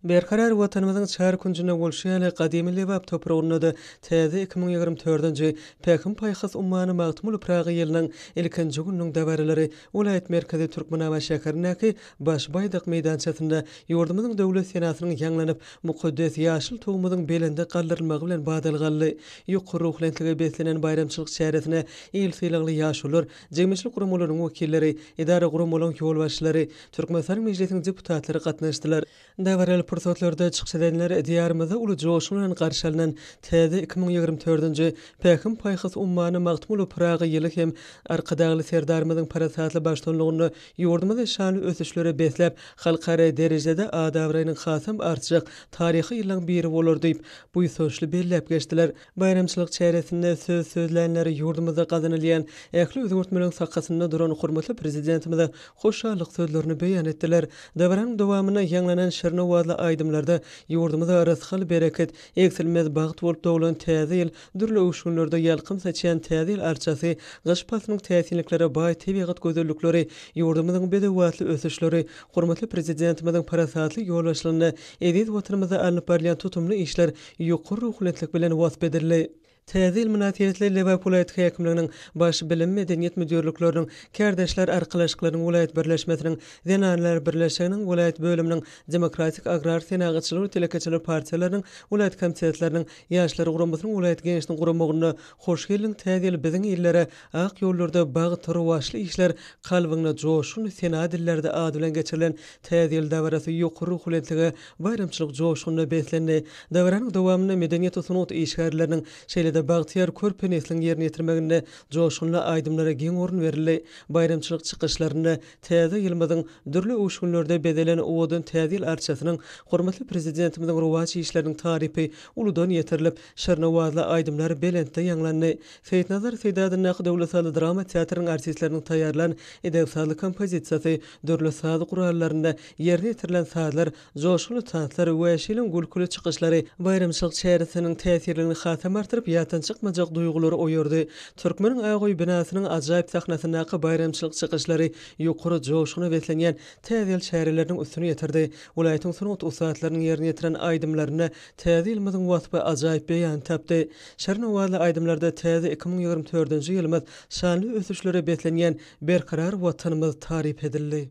Berkarar Watanymyzyň çar künjünde bolşy ýaly, gadymy Lebap topragynda-da täze iki müň ýigrimi dördünji Pähim-paýhas ummany Magtymguly Pyragy ýylynyň ilkinji gününiň dabaralary welaýat merkezi Türkmenabat şäherindäki Baş Baýdak meýdançasynda ýurdumyzyň Döwlet senasynyň ýaňlanyp, mukaddes ýaşyl Tugumyzyň belende galdyrylmagy bilen badalga aldy. Ýokary ruhubelentlige beslenen baýramçylyk çäresine il sylagly ýaşulular, Jemgyýetçilik guramalarynyň wekilleri, edara guramalaryň ýolbaşçylary, Türkmenistanyň Mejlisiniň deputatlary gatnaşdylar. Dabaraly pursatlarda çykyş edenler Diýarymyzda uly joşgun bilen garşy alnan täze iki müň ýigrimi dördünji Pähim-paýhas ummany Magtymguly Pyragy ýyly hem Arkadagly Serdarymyzyň parasatly baştutanlygynda ýurdumyzy şanly ösüşlere besläp, halkara derejede ad-abraýynyň hasam artjak taryhy ýyllaryň biri bolar diýip, buýsançly belläp geçdiler. Baýramçylyk çäresinde söz sözlänler ýurdumyzda gazanylýan ähli özgertmeleriň sakasynda duran hormatly Prezidentimize hoşallyk sözlerini beýan etdiler. Dabaranyň dowamynda ýaňlanan şirin owazly aýdymlarda ýurdumyza rysgal-bereket, egsilmez bagt bolup doglan Täze ýyl, dürli öwüşginlerde ýalkym saçýan Täze ýyl arçasy, gyş paslynyň täsinliklere baý tebigat gözellikleri, ýurdumyzyň bedewbatly ösüşleri, hormatly Prezidentimiziň parasatly ýolbaşçylygynda eziz Watanymyzda alnyp barylýan tutumly işler ýokary ruhubelentlik bilen wasp edildi. Täze ýyl mynasybetli Lebap welaýat häkimliginiň Baş bilim, medeniýet müdirlikleriniň, Kärdeşler arkalaşyklarynyň welaýat birleşmesiniň, Zenanlar birleşiginiň welaýat bölüminiň, Demokratik agrar senagatçylar we telekeçiler partiýalarynyň welaýat komitetleriniň, Ýaşlar guramasynyň welaýat geňeşiniň guramagynda Hoş geldiň, täze ýyl biziň illere! Ak ýollarda bagt, rowaçly işler, kalbyňda joşgun, sena dillerde ady bilen geçirilen Täze ýyl dabarasy ýokary ruhubelentlige, baýramçylyk joşgunyna beslendi. Dabaranyň dowamynda medeniýet we sungat işgärleriniň, şeýle-de bagtyýar körpe nesliň ýerine ýetirmeginde joşgunly aýdymlara giň orun berildi. Baýramçylyk çykyşlarynda Täze ýylymyzyň dürli öwüşginlerde bezelen owadan Täze ýyl arçasynyň, hormatly Prezidentimiziň rowaç işleriniň tarypy uludan ýetirilip, şirin owazly aýdymlar belentde ýaňlandy. Seýitnazar Seýdi adyndaky döwlet sazly drama teatrynyň artistleriniň taýýarlan ideg sazly kompozisiýasy, dürli saz gurallarynda ýerine ýetirilen sazlar, joşgunly tanslar we şirin gülküli çykyşlary baýramçylyk çäresiniň täsirligini hasam artdyryp, ýatdan çykmajak duýgulary oýardy. Türkmeniň Agaoý binasynyň ajaýyp sahnasyndaky baýramçylyk çykyşlary ýokary joşguna beslenýän Täze ýyl çäreleriniň üstüni ýetirdi. Welaýatyň sungat ussatlarynyň ýerine ýetiren aýdymlarynda Täze ýylymyzyň waspy ajaýyp beýan tapdy. Şirin owazly aýdymlarda täze iki müň ýigrimi dördünji ýylymyz, şanly ösüşlere beslenýän berkarar Watanymyz taryp edildi.